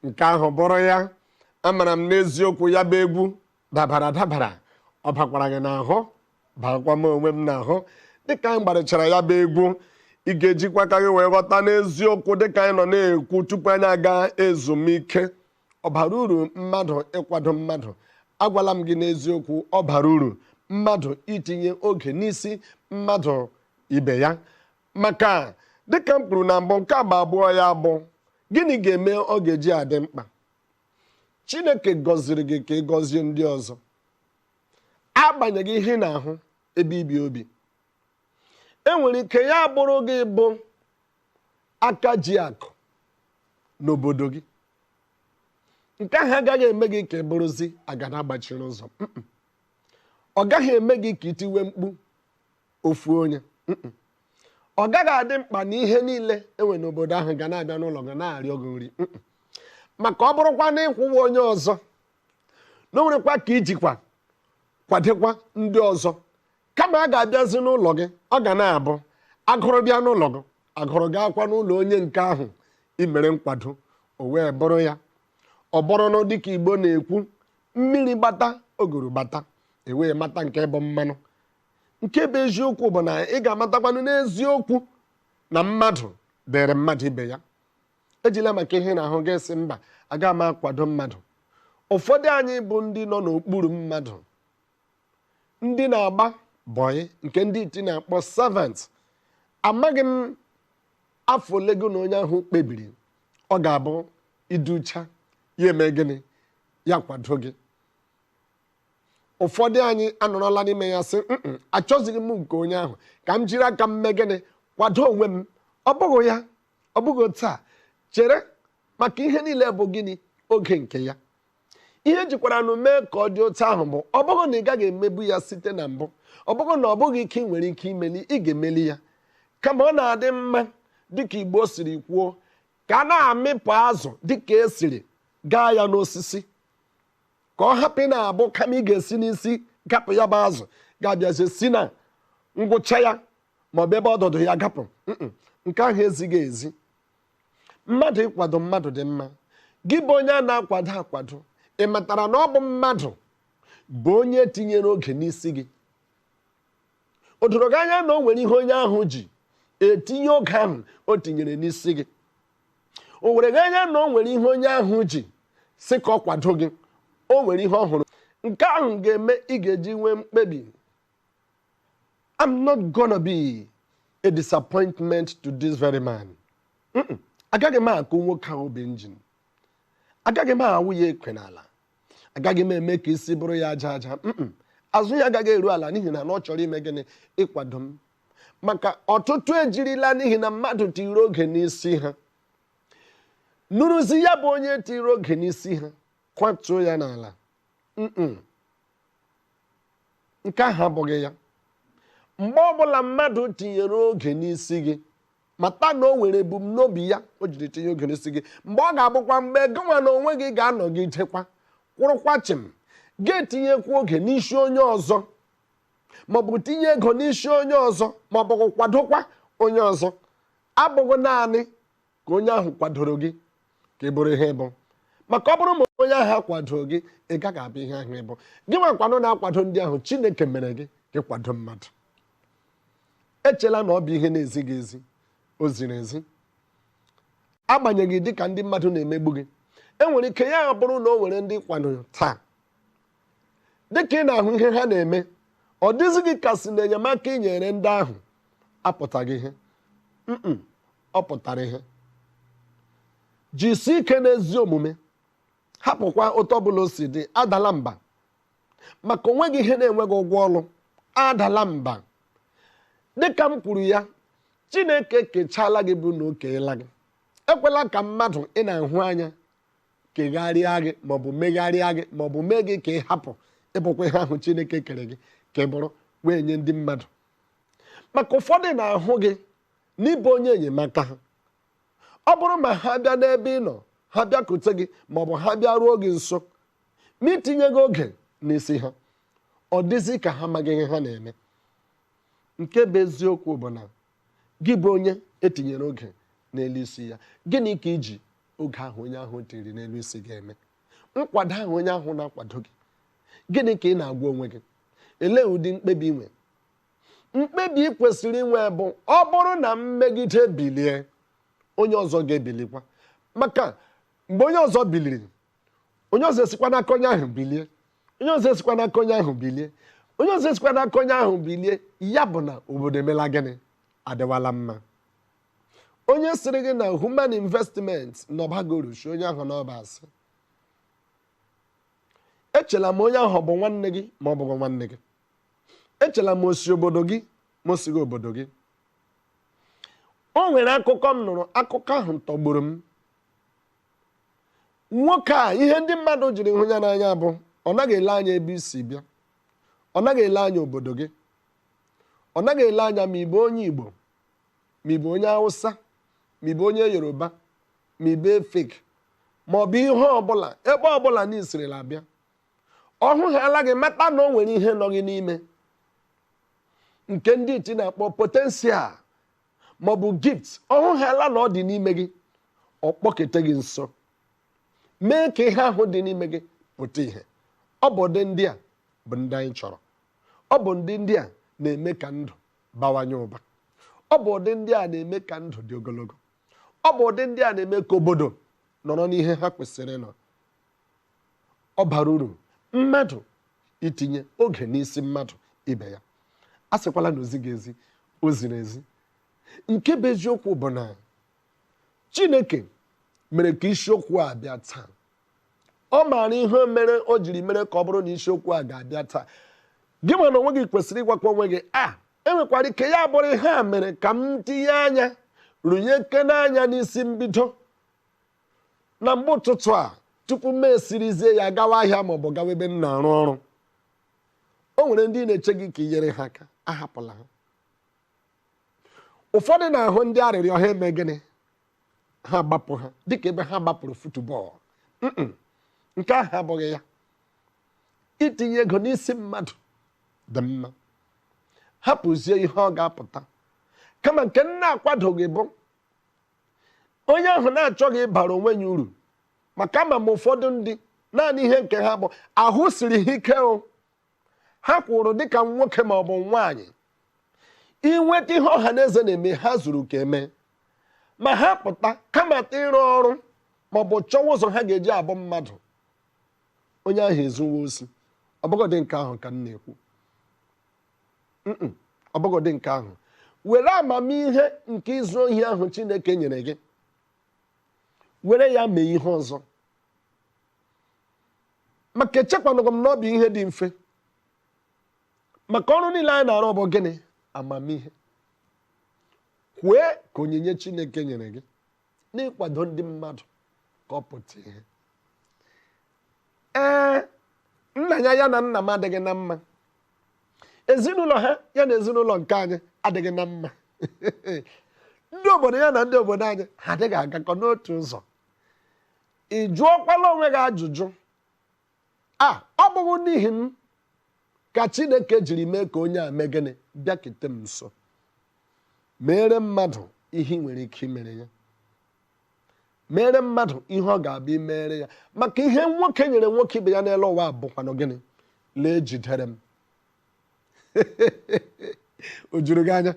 nke ahụ bụrụ ya amara m n'eziokwu ya bụ egwu dabara dabara ọ bakwara gị n'ahụ bakwa m onwe m n'ahụ dịka anyị gbarịchara ya bụ egwu ị ga-ejikwa aka gị wee ghọta n'eziokwu dịka anyị nọ na-ekwu tupu anyị aga ezumike ọ bara uru mmadụ ịkwado mmadụ agwala m gị n'eziokwu ọ bara uru mmadụ itinye oge n'isi mmadụ ibe ya maka dịka m kwuru na mbụ nke agba abụọ ya bụ gịnị ga-eme ọ ga-eji adị mkpa chineke gọziri gị ka ị gọzie ndị ọzọ agbanyeghị ihe ị na-ahụ ebe i bi obi e nwere ike ya bụrụ gị bụ aka ji akụ n'obodo gị nke ahụ agaghị eme gị ka ị bụrụzi agada gbachiri ụzọ Mm-mm. ọ gaghị eme gị ka i tiwe mkpu ofu onye Mm-mm. ọ gaghị adị mkpa na ihe niile e nwe n'obodo ahụ ga na-abịa n'ụlọ gị na-arịọ gị nri Mm-mm. maka ọ bụrụkwa na ị kwụwa onye ọzọ na o nwerekwa ka i jikwa kwadokwa ndị ọzọ Kama a ga-abịazi n'ụlọ gị, ọ ga na-abụ agụrụ bịa n'ụlọ gị, agụrụ gaakwa n'ụlọ onye nke ahụ i mere nkwado, o wee bụrụ ya. Ọ bụrụnụ dịka Igbo na-ekwu, mmiri gbata, oguru gbata, e wee mata nke bụ mmanụ. Nke bụ eziokwu bụ na ị ga-amatakwanụ n'eziokwu na mmadụ dịrị mmadụ ibe ya. Ejila maka ihe na-ahụ gị sị mba, aga m akwado mmadụ. Ụfọdụ anyị bụ ndị nọ n'okpuru mmadụ ndị na-agba bọyị nke ndị iti na-akpọ servant amaghị m afọ ole gị na onye ahụ kpebiri ọ ga-abụ i ducha ya eme gịnị ya kwado gị ụfọdụ anyị anọrọla n'ime ya sị "Mm-mm, achọzighị m nke onye ahụ ka m jiri aka m mee gịnị kwado onwe m ọ bụghị ya ọ bụghị taa chere maka ihe niile bụ gịnị oge nke ya Ihe jikwaranụ mee ka ọ dị otu ahụ bụ ọ bụghị na ị gaghị emebu ya site na mbụ, ọ bụghị na ọ bụghị ike ị nwere ike imeli, ị ga-emeli ya. Kama ọ na-adị mma, dị ka Igbo siri kwuo, ka a na-amịpụ azụ dị ka e siri gaa ya n'osisi ka ọ hapụ na-abụ kama ị ga-esi n'isi gapụ ya bụ azụ gị abịazie si na ngwụcha ya maọbụ ebe ọdụdụ ya gapụ nke ahụ ezighị ezi Mmadụ ịkwado mmadụ dị mma. Gị bụ onye a na-akwado akwado, ị matara na ọ bụ mmadụ bụ onye tinyere oge n'isi gị? O doro gị anya na o nwere ihe onye ahụ ji etinye oge ahụ o tinyere n'isi gị? O were gị anya na o nwere ihe onye ahụ ji sị ka ọ kwado gị? O nwere ihe ọ hụrụ? Nke ahụ ga-eme ị ga-eji nwee mkpebi I'm not gonna be a disappointment to this very man. agaghị m akụ nwoke ahụ bụ injin agaghị m awụ ya ekwe n'ala agaghị m eme ka isi bụrụ ya aja aja azụ ya agaghị eru ala n'ihi na ọ chọrọ ime gịnị ịkwado m maka ọtụtụ ejirila n'ihi na mmadụ tiri oge n'isi ha nụrụzi ya bụ onye tiri oge n'isi ha kwatuo ya n'ala nke ahụ abụghị ya mgbe ọbụla mmadụ tinyere oge n'isi gị mata na o nwere ebumnobi ya o jiri tinye oge n'isi gị mgbe ọ ga-abụkwa mgbe gịnwa na onwe gị ga-anọgidekwa kwụrụkwa chịm ga-etinyekwa oge n'isi onye ọzọ maọbụ tinye ego n'isi onye ọzọ maọbụ kwadokwa onye ọzọ abụghị naanị ka onye ahụ kwadoro gị ka ị bụrụ ihe ị bụ maka ọ bụrụ ma onye ahụ akwadoro gị ị gaghị abụ ihe ahụ ị bụ gị nwakwanụ na-akwado ndị ahụ chineke mere gị ka ị kwado mmadụ echela na ọ bụ ihe na-ezighị ezi o ziri ezi agbanyeghị dịka ndị mmadụ na-emegbu gị enwere ike ya bụrụ na o nwere ndị ị kwadoro taa dịka ị na-ahụ ihe ha na-eme ọ dịzi gị ka a sị na enyemaka ị nyere ndị ahụ apụtaghị ihe mm ọ pụtara ihe jisi ike n'ezi omume hapụkwa otu ọbụla o si dị adala mba maka o nweghị ihe na-enweghị ụgwọ ọrụ adala mba dịka m kwuru ya chineke ekechaala gị bụ na o keela gị ekwela ka mmadụ ị na-ahụ anya kegharịa gị maọbụ megharịa gị maọbụ mee gị ka ị hapụ ịbụkwa ihe ahụ chineke kere gị ka ị bụrụ wee nye ndị mmadụ maka ụfọdụ na-ahụ gị na ị bụ onye enyemaka ha ọ bụrụ ma ha bịa n'ebe ị nọ ha bịakute gị maọbụ ha bịa ruo gị nso ma i tinyeghị oge n'isi ha ọ dịzi ka ha amaghị ihe ha na-eme nke bụ eziokwu bụ na Gị bụ onye e tinyere oge n'elu isi ya, gịnị ka i ji oge ahụ onye ahụ tiri n'elu isi gị eme? Nkwado ahụ onye ahụ na-akwado gị, gịnị ka ị na-agwa onwe gị? Elee ụdị mkpebi i nwe? Mkpebi ị kwesịrị inwe bụ ọ bụrụ na m megide bilie, onye ọzọ ga-ebilikwa. Maka mgbe onye ọzọ biliri, onye ọzọ esikwa n'aka onye ahụ bilie. onye ọzọ esikwa n'aka onye ahụ bilie onye ọzọ esikwa n'aka onye ahụ bilie ya bụ na obodo emela gịnị adịwala mma onye sịrị gị na human investment na ọ baghị uru sị onye ahụ na ọ bụ asị echela ma onye ahụ bụ nwanne gị ma ọ bụghị nwanne gị echela ma o si obodo gị ma o sighị obodo gị o nwere akụkọ m nụrụ akụkọ ahụ tọgburu m nwoke a ihe ndị mmadụ jiri hụ ya n'anya bụ ọ naghị ele anya ebe i si bịa ọ naghị ele anya obodo gị ọ naghị ele anya ma ị bụ onye Igbo ma ị bụ onye Hausa ma ị bụ onye Yoruba ma ị bụ Efik ma ọ bụ ihe ọbụla ebe ọbụla na i sirila bịa ọ hụhaala gị mata na o nwere ihe nọ gị n'ime nke ndị iti na-akpọ potential maọbụ gift ọ hụhaala na ọ dị n'ime gị ọ kpọkete gị nso mee ka ihe ahụ dị n'ime gị pụta ihe ọ bụ ụdị ndị a bụ ndị anyị chọrọ ọ bụ ndị ndị a na-eme ka ndụ bawanye ụba ọ bụ ụdị ndị a na-eme ka ndụ dị ogologo ọ bụ ụdị ndị a na-eme ka obodo nọrọ n'ihe ha kwesịrị ịnọ ọ bara uru mmadụ itinye oge n'isi mmadụ ibe ya a sịkwala na o zighị ezi o ziri ezi nke bụ eziokwu bụ na chineke mere ka isiokwu a bịa taa ọ maara ihe mere o jiri mere ka ọ bụrụ na isiokwu a ga-abịa taa gịwa n'onwe gị kwesịrị ịgwakwa onwe gị a ah, e nwekwara ike ya bụrụ ihe a mere ka m tinye anya rụnyeke n'anya n'isi mbido na mgbe ụtụtụ a tupu m esirizie ya gawa ahịa maọbụ gawa ebe m na-arụ ọrụ o nwere ndị na-eche gị ka i nyere ha aka ahapụla ha ụfọdụ na-ahụ ndị arịrịọ ha eme gịnị ha gbapụ ha dịka ebe ha gbapụrụ football nke ahụ abụghị ya itinye ego n'isi mmadụ dị mma hapụzie ihe ọ ga-apụta kama nke m na-akwadoghị bụ onye ahụ na-achọghị ịbara onwe ya uru maka ama m ụfọdụ ndị naanị ihe nke ha bụ ahụ siri ha ike o ha kwụrụ dịka nwoke ma ọ bụ nwaanyị inweta ihe ọha na eze na-eme ha zuru ka e mee ma ha pụta kamata ịrụ ọrụ ma ọ bụ chọwa ụzọ ha ga-eji abụ mmadụ onye ahụ ezuwe osi ọ bụgodị nke ahụ ka m na-ekwu ọ bụgodị nke ahụ were amamihe nke izu ohi ahụ Chineke nyere gị were ya mee ihe ọzọ maka echekwanụghị m na ọ bụ ihe dị mfe maka ọrụ niile anyị na-arụ bụ gịnị amamihe kwee ka onyinye Chineke nyere gị n'ịkwado ndị mmadụ ka ọ pụta ihe ee nna ya ya na nna m adịghị na mma ezinụlọ ha ya na ezinụlọ nke anyị adịghị na mma ndị obodo ya na ndị obodo anyị ha adịghị agakọ n'otu ụzọ ị jụọkwala onwe gị ajụjụ a ọ bụghị n'ihi m ka chineke jiri mee ka onye a mee gịnị bịakete m nso meere mmadụ ihe ị nwere ike imere ya mere mmadụ ihe ọ ga-abụ i mere ya maka ihe nwoke nyere nwoke ibe ya n'elu ụwa bụkwanụ gịnị lee jidere m o juru gị anya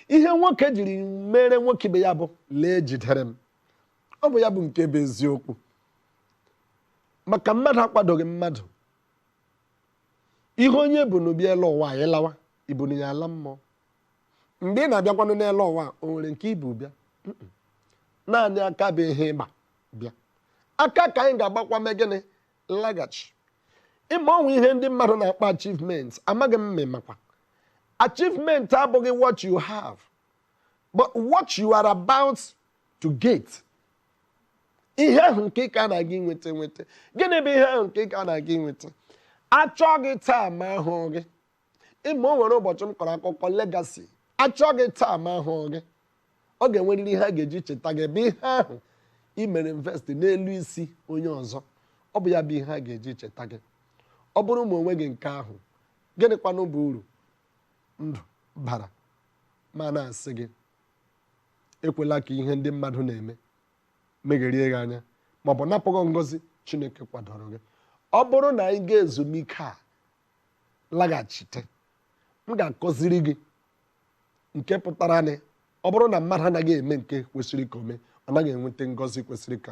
ihe nwoke jiri mere nwoke ibe ya bụ lee jidere m ọ bụ ya bụ nke bụ eziokwu maka mmadụ akwadoghị mmadụ ihe onye bu n'obi elu ụwa anyị lawa i bunụ ya ala mmụọ Mgbe ị na-abịakwanụ n'elu ụwa o nwere nke i bu bịa naanị aka bụ ihe ị gba bịa aka ka anyị ga-agbakwa mee gịnị laghachi ị ma o nwere ihe ndị mmadụ na-akpọ achievement amaghị m ma ị makwa achievement abụghị what you have but what you are about to get ihe ahụ nke ị ka na-aga inweta nweta gịnị bụ ihe ahụ nke ị ka na-aga inweta a chọọ gị taa ma ahụghị gị ị ma o nwere ụbọchị m kọrọ akụkọ legacy a chọọ gị taa ma ahụghị gị ọ ga-enwerịrị ihe a ga-eji cheta gị bụ ihe ahụ i mere invest n'elu isi onye ọzọ ọ bụ ya bụ ihe a ga-eji cheta gị ọ bụrụ ma o nweghị nke ahụ gịnịkwanụ bụ uru ndụ bara ma na-asị gị ekwela ka ihe ndị mmadụ na-eme megherie gị anya ma ọ bụ napụ gị ngọzi chineke kwadoro gị ọ bụrụ na anyị gaa ezumike a laghachite m ga-akọziri gị nke pụtara na ọ bụrụ na mmadụ anaghị eme nke kwesịrị ka o mee ọ naghị enweta ngọzi kwesịrị ka